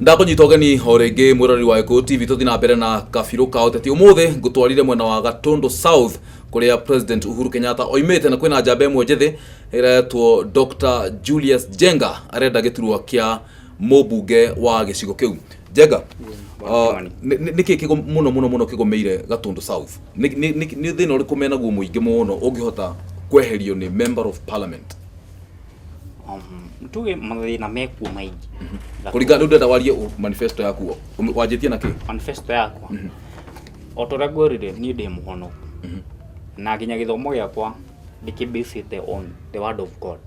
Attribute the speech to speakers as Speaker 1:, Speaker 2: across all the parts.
Speaker 1: ndakũnyita ũgeni o rĩngĩ mwĩroreri wa gĩkũyũ tv tũthiĩ na mbere na kabirũ ka ũteti ũmũthĩ ngũtwarire mwena wa gatũndũ south kũrĩa president uhuru kenyatta oimĩte na kwĩna njamba ĩmwe njĩthĩ ĩretwo dr julius jenga arenda gĩturwa kĩa mũmbunge wa gĩcigo kĩu jenga uh, Wathani. nĩ- nĩ- nĩkĩ kĩgo mũno mũno mũno kĩgũmĩire gatũndũ south nĩ nĩ- nĩ- nĩ thĩna ũrĩkũ menaguo mũingĩ mũno ũngĩhota kweherio nĩ member of parliament nĩ
Speaker 2: tuge mathĩna mekuo maingĩ Na kũringana rĩu ndĩrenda
Speaker 1: warie ũ- manifesto yaku Ũm- wanjĩtie na kĩ manifesto yakwa
Speaker 2: o tũrĩa ngwerire niĩ ndĩ mũhono na nginya gĩthomo gĩakwa ndĩkĩbĩcĩte on the word of god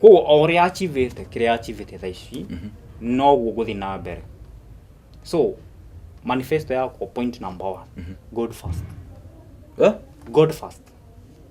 Speaker 2: koguo o ũrĩa achivĩte kĩrĩa achivĩte tha ici noguo gũthiĩ na mbere so manifesto yakwa point number one god first Eh? god first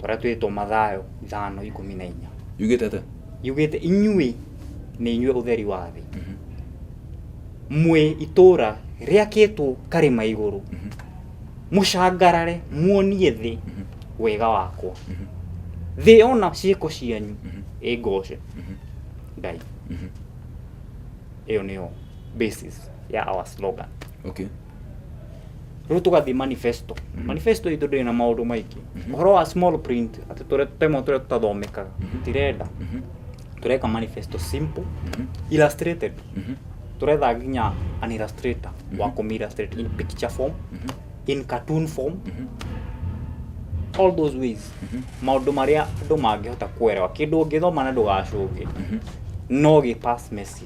Speaker 2: tũrĩa twĩtwo Mathayo ithano ikũmi na inya yugĩte atĩa yugĩte inyuĩ nĩ inyuĩ ũtheri wa thĩ mwĩ itũũra rĩakĩtwo karĩma igũrũ mũcangarare muonie thĩ wega wakwa thĩ yona ciĩko cianyu ĩngooce ngai ĩyo nĩyo basis ya our slogan okay rĩu tũgathiĩ manifesto manifesto itũ ndĩrĩ na maũndũ maingĩ ũhoro wa small print atĩ tũrĩa tũtemo tũrĩa tũtathomekaga tirenda tũreka manifesto simple illustrated tũretha nginya an illustrator wa kũmi illustrate in picture form in cartoon form all those ways maũndũ marĩa andũ mangĩhota kuerewa kĩndũ ũngĩthoma na ndũgacũngĩ no gĩ pass message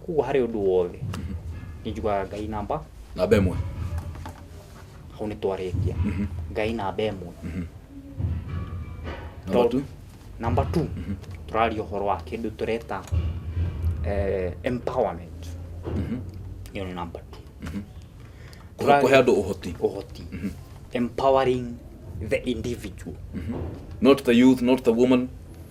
Speaker 2: kuguo harĩ ũndũ wothe nĩ njugaga ngai namba namba ĩmwe hau nĩ twarĩkia ngai namba ĩmwe namba tu namba two tũraria ũhoro wa kĩndũ tũreta eh, empowerment ĩyo nĩ namba two Kũhe- kũhe andũ ũhoti
Speaker 1: ũhoti
Speaker 2: empowering the individual not
Speaker 1: the youth not the woman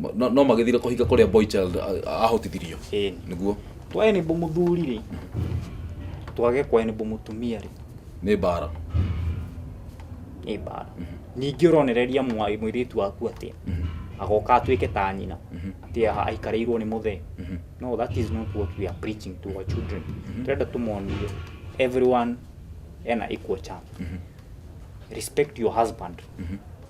Speaker 1: Ma- no- no magĩthire kũhinga kũrĩa boy child a- ahotithirio Ĩni. nĩguo twaenibũ
Speaker 2: mũthuri rĩ twage kwenibũ mũtumia rĩ nĩ mbara
Speaker 1: nĩ mbara
Speaker 2: ningĩ ũronereria mwa- mũirĩtu waku atĩa agoka atuĩke ta nyina atĩ aha aikarĩirwo nĩ mũthee no that is not what we are preaching to our children tũrenda tũmonie everyone ena equal chance respect your husband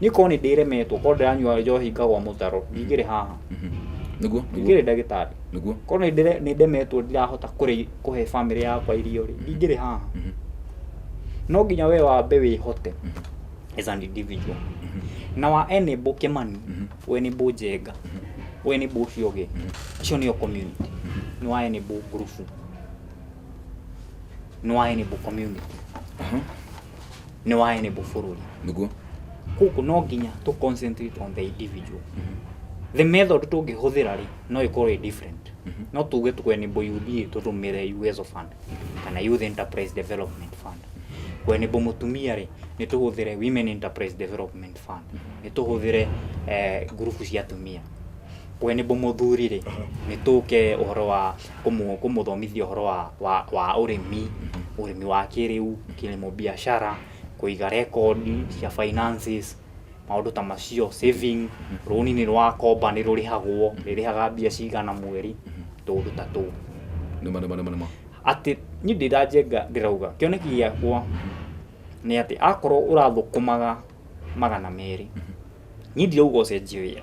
Speaker 2: niä korwo nä ndä remetwo korwo ndä ranyua njohi ngagwa må taro ndingä rä haha nĩguo ndingä
Speaker 1: nĩguo rä ndagä tarä
Speaker 2: nĩguo korwo nä ndĩre-
Speaker 1: nĩ
Speaker 2: ndemetwo ndirahota kũrĩ- kũhe bamĩrĩ yakwa irio rĩ ndingä rĩ haha no nginya we wambe wä hote as an individual na wa enable kĩmani ũ enable njenga ũ enable ũcio ũngĩ icio nĩyo community nĩ wa enable ngurubu nĩ wa enable community Aha.
Speaker 1: nĩ
Speaker 2: wa enable bũrũri nĩguo kũkũ no nginya tũ concentrate on the individual the method tũngĩhũthĩra rĩ no ĩkorwo ĩ different no tuge tũ enable UDA tũtũmĩre USO fund kana youth enterprise development fund kũ enable mũtumia rĩ nĩ tũhũthĩre women enterprise development fund nĩ tũhũthĩre eh, ngurubu cia atumia kũ enable mũthuri rĩ nĩ tũke ũhoro wa kũmũthomithia ũhoro wa ũrĩmi, ũrĩmi wa kĩrĩu, kilimo biashara, kũiga rekondi cia finances, maũndũ ta macio, saving, rũni nĩ wakomba nĩ rũrĩhagwo, rĩrĩhaga mbia cigana mweri, tũũndũ ta tũu.
Speaker 1: Atĩ
Speaker 2: niĩ ndĩ ta Njenga ndĩrauga, kĩoneki gĩakwa nĩ atĩ akorwo ũrathũkũmaga magana merĩ, niĩ ndirauga ũcenjie wĩra.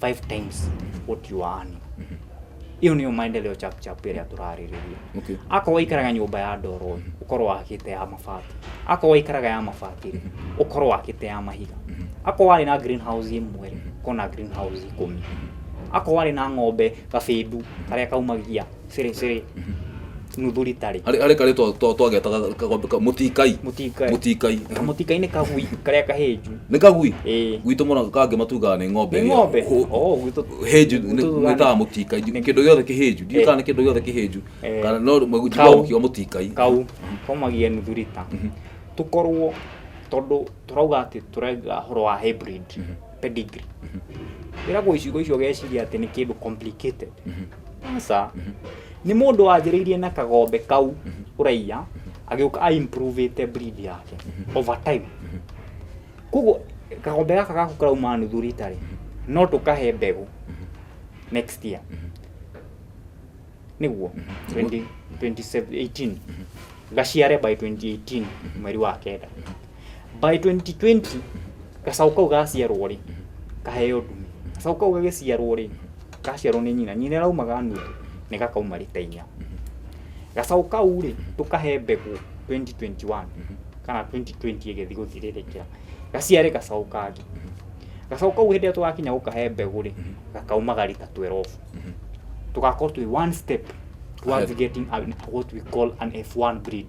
Speaker 2: five times what you are earning iyo niyo maendeleo chap chap ĩrĩa tũrarĩrĩria Okay. akorwo waikaraga
Speaker 1: nyũmba ya
Speaker 2: ndoro ũkorwo wakĩte ya mabati akorwo waikaraga ya mabati ũkorwo wakĩte ya mahiga akorwo warĩ na greenhouse ĩmwe ũkorwo na greenhouse ikũmi akorwo warĩ na ng'ombe gabĩndu karĩa kaumagia cĩrĩ cĩrĩ nuthu rita rĩ arĩ arĩ karĩ twa- twa-
Speaker 1: twagetaga kagombe ka- mũtikai mũtikai mũtikai kamũtikai nĩ kagui
Speaker 2: karĩa kahĩnju nĩ kagui Ĩĩ.
Speaker 1: gwitũ mũno kangĩ
Speaker 2: matugaga
Speaker 1: nĩ ng'ombe nĩ ĩrĩa- ng'ombe hũ- Oh,
Speaker 2: gwitũ- hĩnju gwitũ tugaga
Speaker 1: nĩtaga nĩ- mũtikai nĩ- kĩndũ gĩothe kĩhĩnju ndiũ Eh. kana nĩ kĩndũ gĩothe kĩhĩnju Eh. kana no Kau. mwenjua mũtikai kau kaumagia
Speaker 2: nuthu rita tũkorwo tondũ tũrauga atĩ tũrauga horo wa hybrid pedigree ĩragwo icigo icio ũgeciria atĩ nĩ kĩndũ complicated aca nĩ mũndũ wanjĩrĩirie na kagombe kau ũraiya agĩũka a improve ĩte breed yake over time koguo kagombe gaka gaku karauma nuthu rita rĩ no tũkahe mbegũ next year nĩguo 20- 2018 gaciare by 2018 mweri wa kenda by 2020 gacaũ kau gaciarwo rĩ kaheo ndume gacaũ kau gagĩciarwo rĩ gaciarwo nĩ nyina nyina ĩrauma ganua nĩ gakauma rita inya gacaũ kau rĩ tũkahe mbegũ 2021 kana 2020 ĩgĩthi gũthirĩrĩkĩra gaciare gacaũ kangĩ gacaũ kau hĩndĩ ĩrĩa tũgakinya gũkahe mbegũ rĩ gakaumaga rita 12 tũgakorwo twĩ one step towards Ahead. getting an, what we call an F1 breed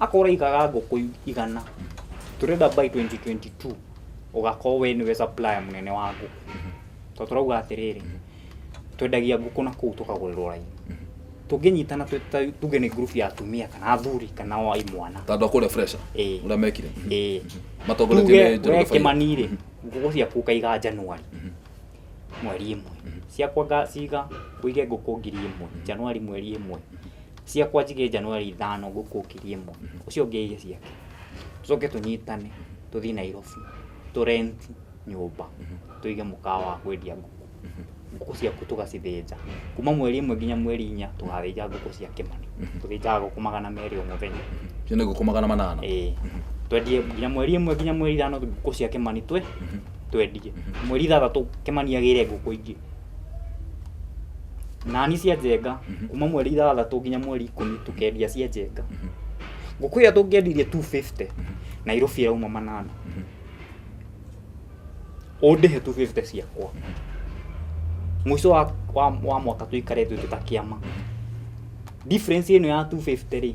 Speaker 2: akorwo igaga ngũkũ igana tũrenda by 2022 ũgakorwo we nĩwe supplier mũnene wa ngũkũ tondũ tũrauga atĩrĩrĩ twendagia ngũkũ na kũu tũkagũrĩrwo raini tũngĩnyitana twĩ ta- tuge nĩ group ya atumia kana athuri kana wa imwana tandũ akũrĩa fresha
Speaker 1: Ĩĩ. ũrĩa mekire Ĩĩ. matongoretio
Speaker 2: tuge nĩ we Njoroge Faida. kĩmani-rĩ ngũkũ ciaku ũkaiga njanuari mweri ĩmwe ciakwa ngaciga ngũige ngũkũ ngiri ĩmwe Januari mweri ĩmwe ciakwa njige Januari ithano ngũkũ ngiri ĩmwe ũcio ũngĩ aige ciake tũcoke tũnyitane tũthiĩ Nairobi tũ rent nyũmba tũige mũkawa wa kwendia ngũkũ ngũkũ ciaku tũgacithĩnja kuma mweri ĩmwe nginya mweri inya tũgathĩnja ngũkũ cia kĩmani tũthĩnjaga ngũkũ magana merĩ o mũthenya Icio nĩ ngũkũ magana
Speaker 1: manana. ĩĩ twendie
Speaker 2: nginya mweri ĩmwe nginya mweri ithano ngũkũ cia kĩmani twe twendie mweri ithathatũ kĩmani agĩre ngũkũ ingĩ nani cia njenga kuma mweri ithathatũ nginya mweri ikũmi tũkendia cia njenga ngũkũ ĩyo tũngĩendirie 250 nairobi ĩrauma manana ũndĩhe 250 ciakwa mũico wa, wa, wa mwaka tũikare twĩ tũtakĩama difference ĩno ya 250 rĩ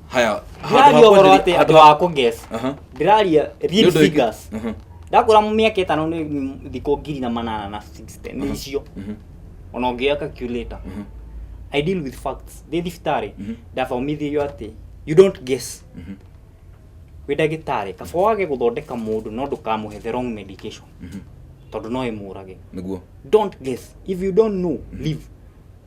Speaker 1: haya
Speaker 2: ndĩraria ũhoro atĩ andũ a kũges Aha.
Speaker 1: ndĩraria
Speaker 2: Nĩ real ũndũ wĩkĩ- figures Mhm, ndakũra mĩaka ĩtano nĩ thikũ ngiri na manana na 60 nĩ icio mhm, ona ũngĩoya calculator mhm, i deal with facts ndĩ thibitarĩ Mhm. ndathomithio atĩ you don't guess mhm, wĩ ndagĩtarĩ kaba wage gũthondeka mũndũ no ndũkamũhe the wrong medication mhm. tondũ no ĩmũrage nĩguo don't
Speaker 1: guess
Speaker 2: if you don't know leave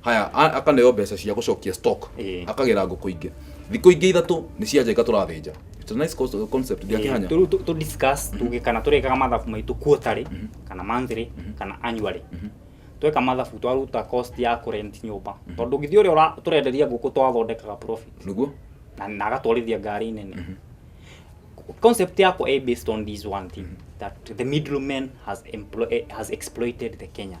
Speaker 1: haya a- akaneo mbeca cia gũcokia stock Ĩĩ. akagĩra ngũkũ ingĩ thikũ ingĩ ithatũ nĩ cia njenga tũrathĩnja It's a nice cons- concept nginya kĩhanya tå tå discuss
Speaker 2: tugä kana tå rekaga mathabu maitå quarterly kana monthly kana annually tweka mathabu twaruta cost ya kå rent nyũmba tondå ngä thiä å rä a tå renderia ngå kå twathondekaga profit nĩguo na na
Speaker 1: agatwarithia
Speaker 2: ngari nene concept yakwa ä based on this one thing that the middleman has, emplo- eh, has exploited the kenyan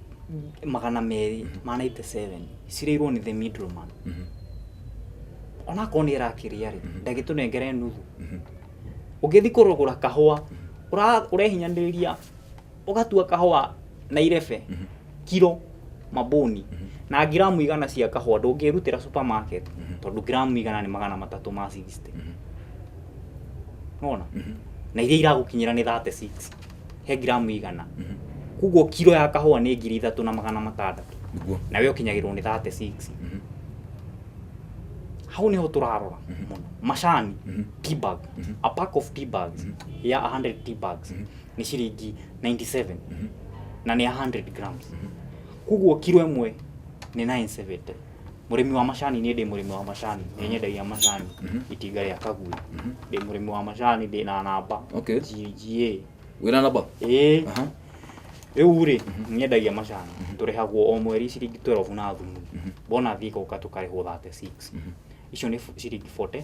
Speaker 2: magana merĩ ma 97 cirĩirwo nĩ the middleman onakorwo nĩ ĩrakĩrĩa rĩ ndagĩtũnengere nuthu ũngĩthi kũrũgũra kahũa ũra- ũrehinyanĩrĩria ũgatua kahũa na irebe kiro mabũni na ngiramu igana cia kahũa ndũngĩrutĩra supermarket tondũ ngiramu igana nĩ magana matatũ ma 60 nona na iria iragũkinyĩra nĩ 36 he ngiramu igana mhm. koguo kiro ya kahũa nĩ ngiri ithatũ na magana matandatũ nawe ũkinyagĩrwo nĩ 36 mhm. hau niho turarora mhm. muno macani tea bag a pack of tea bags ya 100 tea bags ni ciringi 97 na ni 100 grams koguo kiro ĩmwe ni 970 mũrĩmi wa macani niĩ ndĩ mũrĩmi wa macani nĩ nyendagia macani itinga rĩa kagui ndĩ mũrĩmi wa macani ndĩ na namba Okay. GGA wĩna namba
Speaker 1: ĩĩ Aha. rĩu
Speaker 2: rĩ nyendagia macani tũrĩhagwo o mweri ciringi 12 na thumu bona thiĩ gũka tũkarĩhwo 36 icio nĩ f- ciringi 40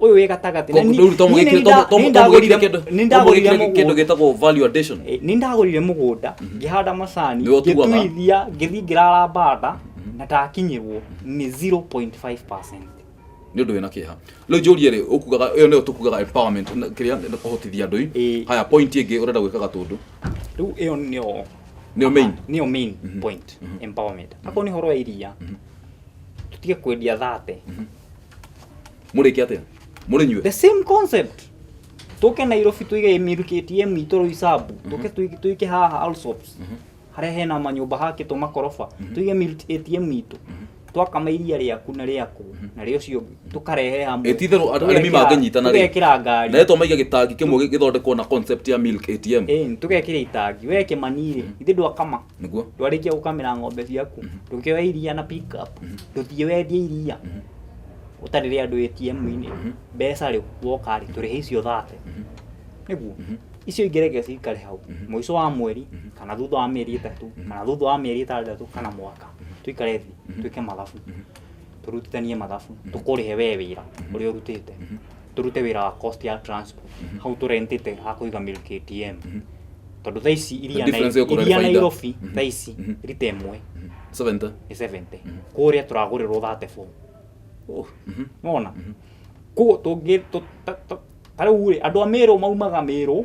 Speaker 2: uyu wi gatagati na ni- rĩu to ni- mũgĩkire- ni- to- nda- to-
Speaker 1: ni to ndagũrire- mũgĩkire kĩndũ- ni to ndagũrire mũgĩkire kĩndũ mũgũnda. gĩtagwo value addition Eh, ni ndagurire
Speaker 2: mugunda ngihanda macani Nĩwe ũtuaga. ngituithia ngithi ngirara banda na ndakinyirwo ni 0.5 nä
Speaker 1: å ndå wä na kä ha rä u njå rie rä å kugaga ä yo nä yo tå kugaga kä rä a kå hotithia andå Ĩĩ. haya point ä ngä å renda gwä ka gatå ndå riu iyo
Speaker 2: nio nä yo main niyo main point empowerment akorwo ni horo ya iria tutige kwendia thate
Speaker 1: mũrĩke atĩa mũrĩ nyue the same concept
Speaker 2: tũke nairobi tũige mil ktm itũ rũi sabu tũke tũi- tũike haha alsops harĩa hena manyũmba hakĩtwo makoroba tũige mil atm itũ twakama iria rĩaku na rĩaku na rĩa ũcio ũngĩ tũkarehe hamwe Ĩtitherũ andũ- arĩmi Tũgekĩra- mangĩnyitana
Speaker 1: rĩ. tũgekĩra ngari na etwa maiga
Speaker 2: gĩtangi kĩmwe
Speaker 1: gĩ- gĩthondekwo na concept ya milk atm Eh, tũgekĩra itangi
Speaker 2: we kĩmanirĩ ithe ndwakama niguo ndwarĩkia
Speaker 1: gũkamĩra ng'ombe
Speaker 2: ciaku ndũkĩoya iria na pick up ndũthiĩ wendie iria ũtarĩrĩ andũ ATM-inĩ mbeca rĩ woka rĩ tũrĩhe icio thate nĩguo icio ingĩ reke cikare hau mũico wa mweri kana thutha wa mĩeri ĩtatũ kana thutha wa mĩeri ĩtandatũ kana mwaka tũikare thĩ twĩke mathabu tũrutithanie mathabu tũkũrĩhe we wĩra ũrĩa ũrutĩte tũrute wĩra wa cost ya transport hau tũrentĩte ha kũiga mil KTM tondũ thaa ici iria The difference Nai- ĩgũkorwo nĩ iria baida. Nairobi Mhm. thaa ici Mhm. rita ĩmwe 70 nĩ 70 kũrĩa tũragũrĩrwo 34 oh mhm nona koguo tũngĩ tũ- ta- ta- ta rĩu rĩ andũ a mĩrũ maumaga mĩrũ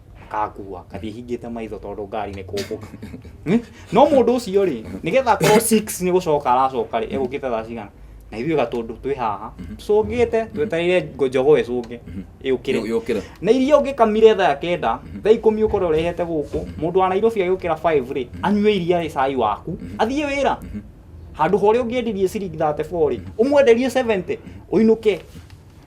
Speaker 2: akakua ngathiĩ hingĩte maitho tondũ ngari nĩ kũmbũka Hmm? no mũndũ ũcio rĩ nĩgetha akorwo six nĩ gũcoka aracoka rĩ egũkĩte thaa cigana na ithuĩ gatũndũ twĩ haha tũcũngĩte twetereire ngo- njogo ĩcũnge ĩũkĩre yũkĩra na iria ũngĩkamire thaa kenda thaa ikũmi ũkorwo ũrehete gũkũ mũndũ wa nairobi agĩũkĩra 5 rĩ anyue iria rĩ cai waku athiĩ wĩra handũ ha ũrĩa ũngĩendirie ciringi 34 rĩ ũmwenderie 70 ũinũke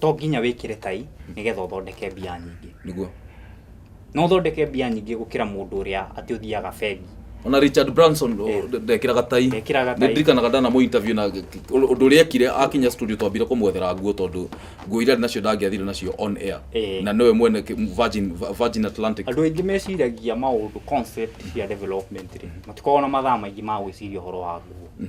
Speaker 2: to nginya wĩkĩre tai nĩgetha ũthondeke mbia nyingĩ niguo
Speaker 1: no
Speaker 2: ũthondeke mbia nyingĩ gũkĩra mũndũ ũrĩa atĩ ũthiaga bengi ona richard
Speaker 1: branson o, Eh. ndekĩraga tai Ndekĩraga tai. nĩndirikanaga ndana mũ interview na ũndũ ũrĩa ekire akinya studio twambire kũmwethera nguo tondũ nguo iria arĩ nacio ndangĩathire nacio on air Eh. na nĩwe mwene ki- virgin, virgin atlantic andũ aingĩ meciragia
Speaker 2: maũndũ concept cia development rĩ matikoragwo na mathaa maingĩ ma gwĩciria ũhoro wa nguo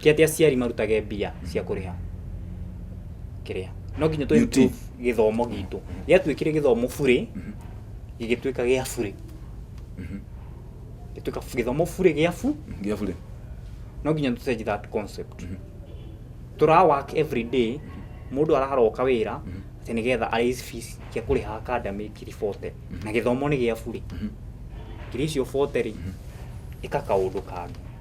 Speaker 2: Ti atĩ aciari marutage mbia cia kũrĩha kĩrĩa no nginya tũrĩ UT. gĩthomo gitũ gĩatuĩkire gĩthomo burĩ gĩgĩtuĩka gĩa burĩ gĩtuĩka gĩthomo burĩ gĩa bu Ngia bure. no nginya tũ change that concept tũra work every day mũndũ araroka wĩra atĩ nĩgetha araise fees cia kũrĩha academy ngiri 40 na gĩthomo nĩ gĩa burĩ ngiri icio 40 rĩ ĩka kaũndũ kangĩ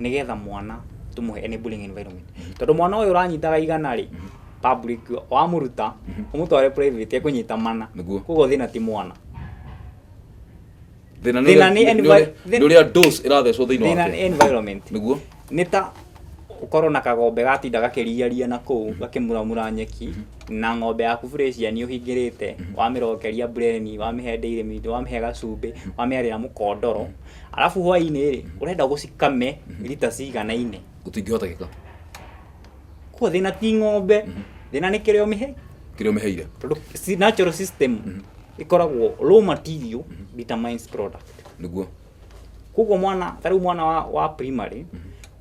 Speaker 2: nĩgetha mwana tũmũhe enabling environment tondũ mwana ũyũ ũranyitaga igana rĩ public wamũruta ũmũtware private ekũnyita mana Nĩguo. koguo thĩna ti mwana
Speaker 1: thina Thĩna nĩ envi- nĩ thĩ- uria dose irathecwo thiini thĩna nĩ wake environment niguo
Speaker 2: nĩ ta ũkorwo na kagombe gatinda gakĩriaria na kũu gakĩmuramura nyeki na ng'ombe yaku fresian ũhingĩrĩte wamĩrokeria bureni wamĩhe ndĩirĩ mĩndũ wamĩhe gacumbĩ wamĩarĩra mũkondoro arabu hwainĩ rĩ ũrenda gũcikame rita ciganaine gũtingĩhotekeka kuo thĩna ti ng'ombe thĩna nĩ kĩrĩa ũmĩhe kĩrĩa ũmĩheire
Speaker 1: tondũ si- natural
Speaker 2: system ĩkoragwo raw material determines product nĩguo koguo
Speaker 1: mwana
Speaker 2: ta rĩu mwana wa, wa primary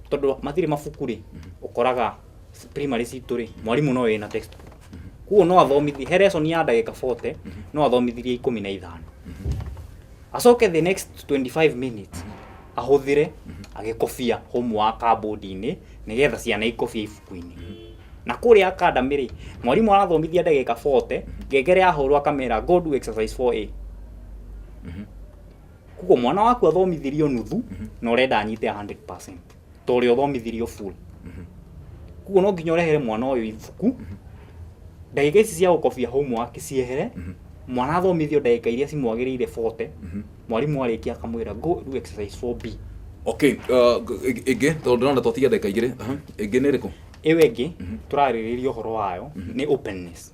Speaker 2: tondũ matirĩ mabuku rĩ ũkoraga primary citũ rĩ mwarimũ no ĩna textbook koguo no athomithi he lesson ya ndagĩka 40 no athomithirie ikũmi na ithano acoke the next 25 minutes ahũthĩre agĩkobia hũmũ wa kambũndi-inĩ nĩgetha ciana ikobie ibuku-inĩ na kũrĩa academy rĩ mwarimũ arathomithia ndagĩka 40 ngengere yahũrwo akamera go do exercise 4a koguo mwana waku athomithirio nuthu na ũrenda anyite 100% ta ũrĩa ũthomithirio full kuguo no nginya ũrehere mwana ũyũ ibuku ndagĩka ici cia gũkobia homework ciehere mwana athomithio ndagĩka iria cimwagĩrĩire 40 mwarimũ arĩkia akamwĩra go do exercise 4b okay uh, ĩng-
Speaker 1: ĩngĩ tondũ ndĩrona twatige ndagĩka igĩrĩ aha. ĩngĩ nĩ ĩrĩkũ ĩyo ĩngĩ
Speaker 2: tũrarĩrĩria ũhoro wayo nĩ openness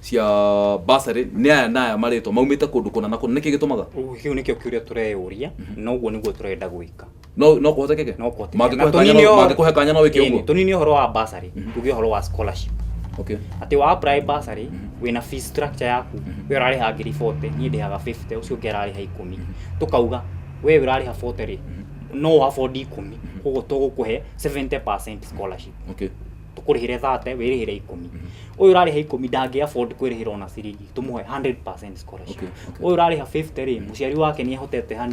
Speaker 1: cia bursary nĩ aya na aya marĩtwa maumĩte kũndũ kũna na kũna nĩkĩ gĩtũmaga Ũguo kĩu nĩkĩo kĩũria
Speaker 2: tũreyũria na ũguo nĩguo tũrenda gwĩka no no kũhotekeke
Speaker 1: No kũhotekeke. Na mangĩkũhe kanya tũnine no- ũhoro- mangĩkũhe kanya no wĩke Ĩĩ, ũguo tũnine ũhoro wa bursary
Speaker 2: tuge ũhoro wa scholarship okay atĩ wa
Speaker 1: apply
Speaker 2: bursary wĩna fee structure yaku we ũrarĩha ngiri 40 niĩ ndĩhaga 50 ũcio ũngĩ ararĩha ikũmi tũkauga we ũrarĩha 40 rĩ no ũabondi ikũmi koguo tũgũkũhe 70% scholarship okay
Speaker 1: tũkũrĩhĩre 30
Speaker 2: wĩrĩhĩre ikũmi ũyũ ũrarĩha ikũmi ndangĩ afford kwĩrĩhĩra ona ciringi tũmũhe 100% scholarship Okay, okay. ũyũ ũrarĩha 50 rĩ mũciari wake nĩ ahotete hani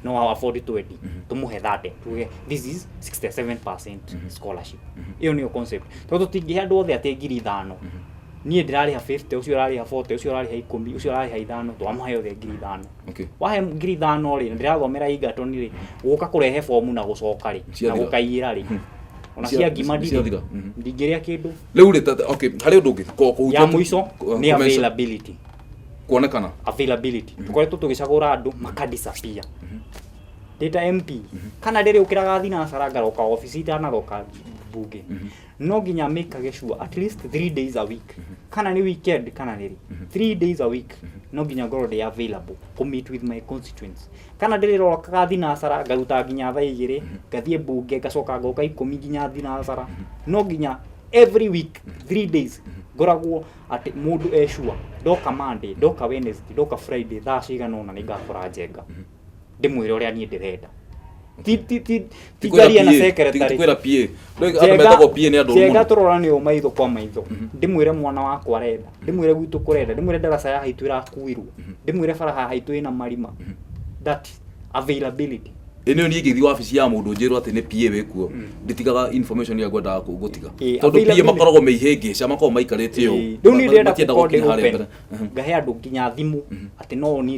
Speaker 2: no afford 20 tũmũhe 30 tuge this is 67% scholarship ĩyo nĩyo concept tondũ tũtingĩhe andũ othe atĩ ngiri ithano niĩ ndĩrarĩha 50 ũcio ũrarĩha 40 ũcio ũrarĩha ikũmi ũcio ũrarĩha ithano twamahe othe ngiri ithano Okay. wahe ngiri
Speaker 1: ithano
Speaker 2: rĩ na ndĩrathomera Egerton rĩ gũka kũrehe bomu na gũcoka rĩ na Ciathira. gũkaiyĩra rĩ ona Cia- cia ngima ndirĩ ciathira, mhm. ndingĩrĩa kĩndũ Rĩu rĩ tata, okay,
Speaker 1: harĩ ũndũ ũngĩ ko- kũhutia- ya mũico
Speaker 2: kũ- nĩ kũmeca- availability kuonekana.
Speaker 1: availability
Speaker 2: tũkoretwo tũgĩcagũra andũ makadisappear ndĩta mp kana rĩrĩ ũkĩraga thinacara ngaroka obici itanaroka mbunge no nginya amikage sure at least three days a week kana ni weekend kana niri three days a week no nginya ngorwo ndi available ku meet with my constituents kana ndirirokaga thinacara ngaruta nginya thaa igiri ngathie mbunge ngacoka ngoka ikumi nginya thinacara no nginya every week three days ngoragwo atä må ndå ecua ndoka monday ndoka wednesday ndoka friday thaa cigana å na nä ngakora njenga ndĩmwĩre ũrĩa niĩ ndĩrenda Ti- ti- ti- ti njarie na secretary kwĩra pie Ndũĩ-
Speaker 1: andũ metagwo pie nĩ andũ njega mũno tũrorane o maitho
Speaker 2: kwa maitho ndĩmwĩre mwana wakwa arenda ndĩmwĩre gwitũ kũrenda ndĩmwĩre ndaraca ya haitũ ĩrakuirwo ndĩmwĩre bara ya haitũ ĩna marima that is availability ĩ nĩyo niĩ ingĩthiĩ
Speaker 1: wabici ya mũndũ njĩrwo atĩ nĩ pie wĩkuo ndĩtigaga information ĩrĩa ngwendaga kũ- gũtiga Ĩ, tondũ pie availability. makoragwo me ihĩngĩca makoragwo maikarĩte ũũ rĩu nĩ ndĩrenda Matienda gũkorwo gũkinya
Speaker 2: harĩa ndĩopen mbere. ngahe andũ nginya thimũ atĩ no niĩ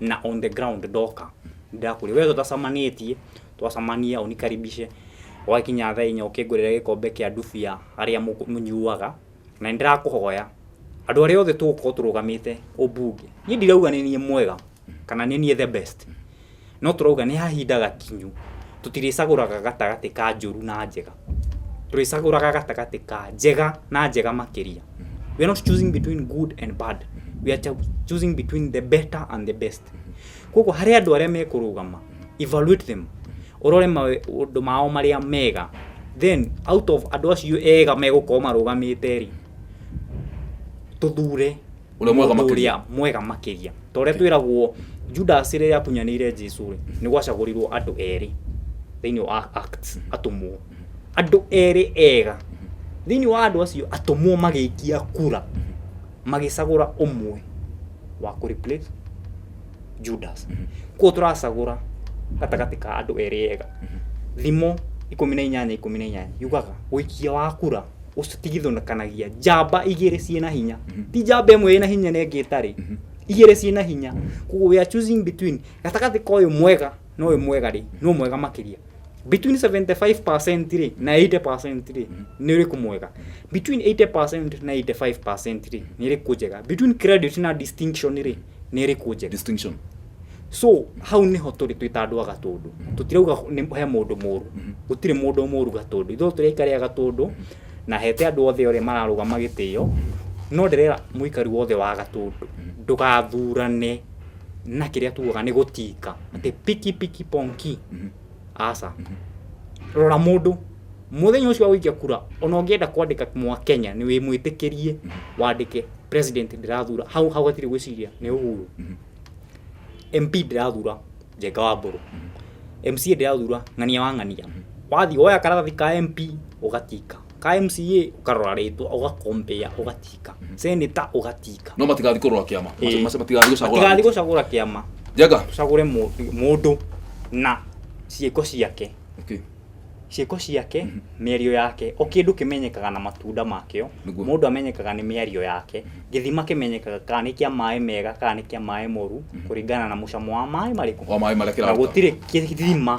Speaker 2: na on the ground ndoka ndakũria we tũtacamanĩtie twacamania ũnikaribishe wakinya thaa inya ũkĩngũrĩre gĩkombe kĩa ndubia arĩa mũkũ- mũnyuaga na nĩndĩrakũhoya andũ arĩa othe tũgũkorwo tũrũgamĩte ũmbunge niĩ ndirauga nĩ niĩ mwega kana nĩ niĩ the best no tũrauga nĩ hahinda gakinyu tũtirĩcagũraga gatagatĩ ka njũru na njega tũrĩcagũraga gatagatĩ ka njega na njega makĩria we are not choosing between good and bad we are cho- choosing between the better and the best koguo harĩ andũ arĩa mekũrũgama evaluate them ũrore maũndũ mao marĩa mega then out of andũ acio ega megũkorwo marũgamĩte rĩ tũthure Ũrĩa mwega mũndũ makĩria. ũrĩa mwega makĩria ta ũrĩa twĩragwo judasi rĩrĩa akunyanĩire jesu rĩ nĩ gwacagũrirwo andũ erĩ thĩinĩ wa acts atũmwo andũ erĩ ega thĩinĩ wa andũ acio atũmwo magĩikia kura magĩcagũra ũmwe wa kũ replace judas kuo tũracagũra gatagatĩ ka andũ erĩ ega thimo ikũmi na inyanya ikũmi na inyanya yugaga ũikia wa kura ũcio tigithũkanagia njamba igĩrĩ ciĩ na hinya ti njamba ĩmwe ĩ na hinya na ĩngĩ ĩtarĩ igĩrĩ ciĩ na hinya koguo we are choosing between gatagatĩ ka ũyũ mwega na ũyũ mwega rĩ no mwega makĩria between 75% rĩ na 80% rĩ nĩ ũrĩkũ mwega between 80% na 85% rĩ nĩ ĩrĩkũ njega between credit na distinction rĩ nĩ ĩrĩkũ njega distinction
Speaker 1: so
Speaker 2: hau niho tũrĩ twĩ ta andũ a gatũndũ tũtirauga nĩ- he mũndũ mũru gũtirĩ mũndũ mũru gatũndũ ithuothe tũrĩ aikari a gatũndũ na hete andũ othe ũrĩa mararũgama gĩtĩo no ndĩrera mũikari wothe wa gatũndũ ndũgathurane na kĩrĩa tugaga nĩ gũtinga atĩ piki piki ponki aca rora mũndũ mũthenya ũcio wa gũikia kura ona ũngĩenda kwandĩka mwa kenya nĩ wĩmwĩtĩkĩrie wandĩke president ndĩrathura hau hau hatirĩ gwĩciria nĩ ũhuru mp ndĩrathura njenga wa mbũrũ mca ndĩrathura ng'ania wa ng'ania wathiĩ woya karatathi ka mp ũgatinga ka mca karorarĩtwo ũgakombea ũgatika seneta ũgatika no matigathi kũrũa kĩama
Speaker 1: Ĩĩ. Mace- matigathi tigathi gũcagũra gũcagũra kĩama
Speaker 2: njaga tũcagũre mũ- mũndũ na ciĩko ciake Okay.
Speaker 1: ciĩko
Speaker 2: ciake mĩario yake o kĩndũ kĩmenyekaga na matunda makĩo Nĩguo. mũndũ amenyekaga nĩ mĩario yake gĩthima kĩmenyekaga kana nĩ kĩa maĩ mega kana nĩ kĩa maĩ moru kũringana na mũcamo wa maĩ marĩkũ wa maĩ marĩa na kĩraruta
Speaker 1: gũtirĩ kĩthima